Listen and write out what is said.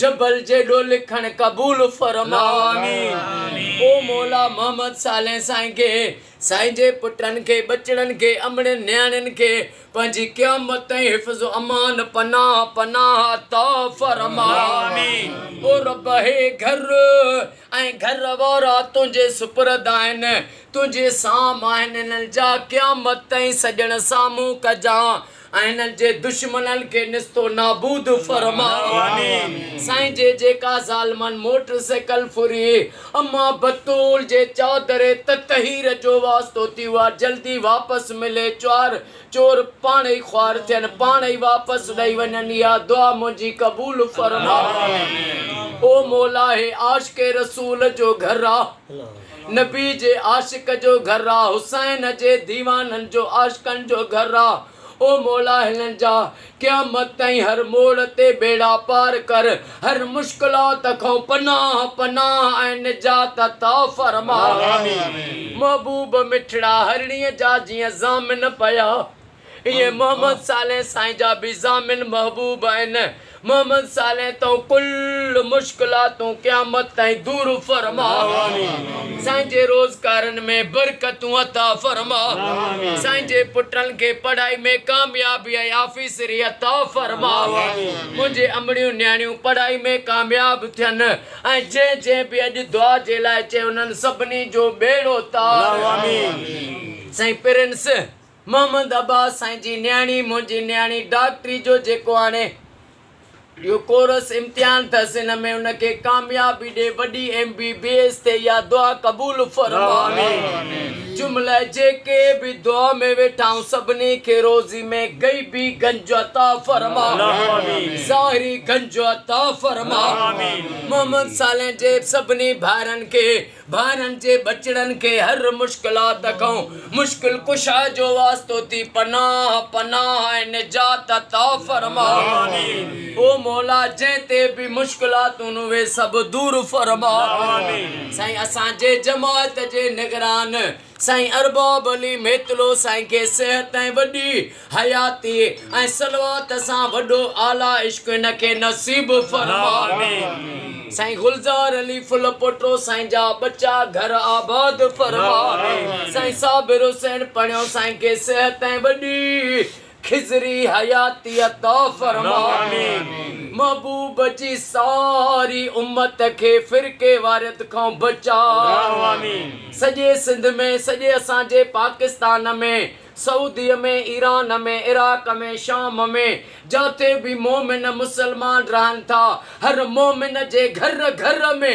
جبل جيڏو لکڻ قبول فرماء آمين او مولا محمد صالح سائين کي سائين جي پٽن کي ٻچڙن کي امڙين نياڻين کي پنهنجي قيامت تائين حفظ و امان پناه پناه عطا فرماء آمين او رب هي گهر ۽ گهر وارا تنهنجي سپرد آهن تنهنجي سام آهن هنن جا قيامت تائين سڄڻ سامهون ڪجان آهن جي دشمنن کي نست و نابود فرماء آمين سائين جي جيڪا ظالمن موٽر سيڪل ڦري اما بتول جي چادر تطهير جو واسطو ٿي اها جلدي واپس ملي چار چور پاڻ ئي خوار ٿين پاڻ ئي واپس ڏئي وڃن اها دعا منهنجي قبول فرماء او مولا هي عاشق رسول جو گهر آ. نبي جي عاشق جو گهر آ، حسين جي ديوانن جو عاشقن جو گهر آ، او مولا هنن جا قيامت تائين هر موڙ تي ٻيڙا پار ڪر، هر مشڪلات کان پناهه پناهه ۽ نجات عطا فرما، محبوب مٺڙا هرڻيء جا جيئن ضامن پيا، ائين محمد صالح سائين جا به ضامن محبوب آهن. محمد صالح تون ڪل مشڪلاتون قيامت تائين دور فرماء. سائين جي روزگارن ۾ برڪتون عطا فرماء. سائين جي پٽن کي پڙهائي ۾ ڪاميابي ۽ آفيسري عطا فرماء. منهنجي امڙيون نياڻيون پڙهائي ۾ ڪامياب ٿين ۽ جنهن جنهن به اڄ دعا جي لاء چيو انهن سڀني جو ٻيڙو تار ڪر. سائين پرنس محمد عباس سائين جي نياڻي منهنجي نياڻي ڊاڪٽري جو جيڪو هاڻي اهو ڪورس امتحان ٿس ان ۾ ان کي ڪاميابي ڏي وڏي ايم بي بي ايس ٿئي اها دعا قبول فرما جمله جيڪي به دعا ۾ ويٺا آهون سڀني کي روزي ۾ غيبي گنج عطا فرما ظاهري گنج عطا فرما محمد صالح جي سڀني ڀائرن کي ٻارن جي ٻچڙن کي هر مشڪلات کان مشڪل ڪشا جو واسطو ٿي پناهه پناهه ۽ نجات عطا فرماء او مولا جنهن تي به مشڪلاتون اهي سڀ دور فرماء سائين اسان جي جماعت جي نگران سائين ارباب علي ميتلو سائين کي صحت ۽ وڏي حياتي ۽ صلوات سان وڏو اعليٰ عشق هن کي نصيب فرمائي سائين گلزار علي ڦل پوٽو سائين جا ٻچا گهر آباد فرمائي سائين صابر حسين پڻهيو سائين کي صحت ۽ وڏي خضري حياتيء عطا فرما. محبوب جي ساري امت کي فرقي واريت کان بچاء. سڄي سنڌ ۾، سڄي اسان جي پاڪستان ۾، سعوديء ۾، ايران ۾، عراق ۾، شام ۾، جاتي به مومن مسلمان رهن ٿا، هر مومن جي گهر گهر ۾،